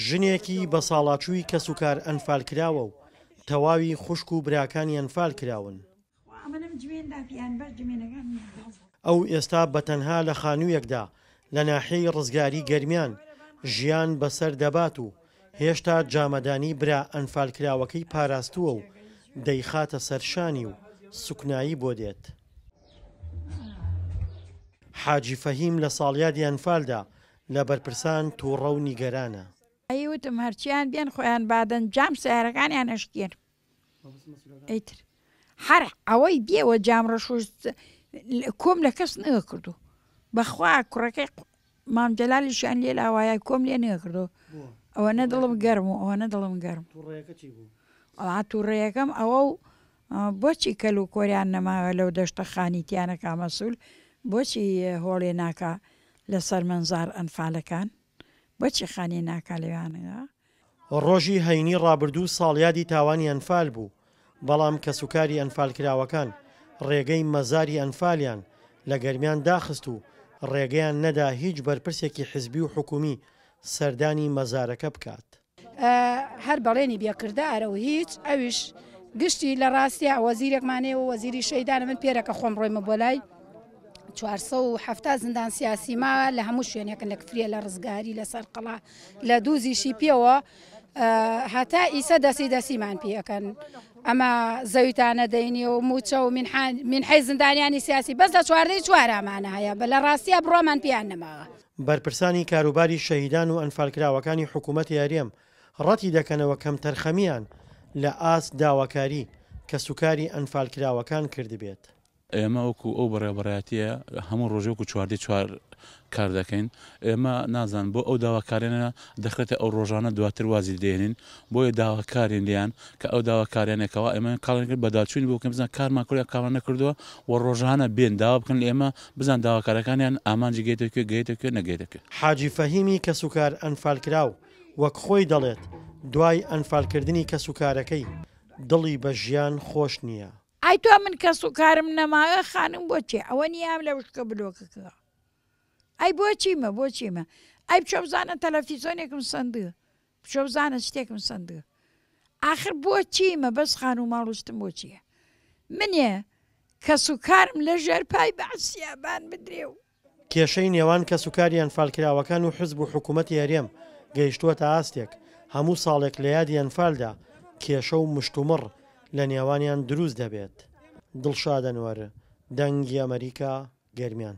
ژنێکی بەساڵاچووی کەسوکار ئەنفالکراوە و تەواوی خوشک و براکانی ئەنفالکراون. ئەو ئێستا بە تەنها لە خانوویەکدا لە ناحیەی ڕزگاری گەرمیان ژیان بەسەر دەبات و هێشتا جامەدانی برا ئەنفالکراوەکەی پاراستووە و دەیخاتە سەر شانی و سوکنایی بۆ دێت. حاجی فەهیم لە ساڵیادی ئەنفالدا لە بەرپرسان تووڕە و نیگەرانە. ئەی وتم هەرچیان بێن خۆیان بادەن جام سیارەکانیان ئەشکێن ئیتر هەر ئەوەی بێوە جام ڕەشوست کۆم لە کەس نەکردو بەخوا کوڕەکەی مام جەلالیشیان لێ لاوایە کۆم لێ نێکردەوە ئەوەنە دڵم گەرم و ئەوەنە دڵم گەرم ئەڵا تووڕێیەکەم ئەوە و بۆچی کەل و کۆریان نەماوە لەو دەشتە خانیتیانەکە مەسول بۆچی هۆڵێ ناکە لەسەر منزار ئەنفالەکان بۆچی خانی ناکە لەوانەیە ڕۆژی هەینی ڕابردوو ساڵیادی تاوانی ئەنفال بوو، بەڵام کەسوکاری ئەنفالکراوەکان ڕێگەی مەزاری ئەنفالیان لە گەرمیان داخست و ڕێگەیان نەدا هیچ بەرپرسێکی حزبی و حکومی سەردانی مەزارەکە بکات. هەر بەڵێنی بێ کردارە و هیچ، ئەویش گشتی لە ڕاستیا وەزیرێکمان هەیە و وەزیری شەیدانە، من پێرەکە خۆم ڕۆیمە بۆ لای، چوار سەد و حەفتا زیندان سیاسی ما لە هەموو شوێنێکن لە کفریە لە ڕزگاری لە سەرقەڵا لە دوو زیشی پێوە هەتا ئیسە دەسی دەسیمان پێەکەن ئەمە زەویتانە دەینی و موچە و من حی زیندانیانی سیاسی بەس لە چواردەی چوارامانە هەیە بە لە ڕاستیە بڕۆمان پێیان نەماوە بەرپرسانی کاروباری شەهیدان و ئەنفالکراوەکانی حکوومەتی هەرێم ڕەتی دەکەنەوە کەمتەرخەمییان لە ئاست داواکاری کەسوکاری ئەنفالکراوەکان کردبێت. ئێمە وەکو ئەو بەڕێوەبەرایەتیە هەموو ڕۆژێ وەکو چواردەی چوار کار دەکەین، ئێمە نازانم بۆ ئەو داواکاریانە دەخرێتە ئەو ڕۆژانە دواتر وازی لێدەهێنین، بۆیە داواکارین لێیان کە ئەو داواکاریانە کەوا ئێمە کاڵیان کرد بەداچوونی بۆ بکەن بزان کارمان کردووە یا کارمان نەکردووە و ڕۆژانە بێن داوا بکەن لە ئێمە بزان داواکارەکانیان ئامانجی گەیتە کوێ گەیتە کوێ نەگەیتە کوێ. حاجی فەهیمی کەسوکار ئەنفالکراو وەک خۆی دەڵێت، دوای ئەنفالکردنی کەسوکارەکەی دڵی بە ژیان خۆش نییە، ئای تۆ من کەس و کارم نەماوێ خانم بۆ چێ ئەوە نیام لە وشکە بلۆکەکەەوە ئەی بۆ چیمە بۆ چیمە ئەی بچۆ بزانە تەلەفیزۆنێکم سندە بچۆ بزانە شتێکم سندە ئاخر بۆ چیمە بەس خان و ماڵشتم بۆ چییە منێ کەس و کارم لە ژێر پای بەعسیابان بدرێ و کێشەی نێوان کەسوکاری ئەنفالکراوەکان و حزب و حکومەتی هەرێم گەیشتووەتە ئاستێک، هەموو ساڵێک لە یادی ئەنفالدا کێشە و مشتومڕ لە نێوانیان دروست دەبێت. دڵشاد ئەنوەر، دەنگی ئەمەریکا، گەرمیان.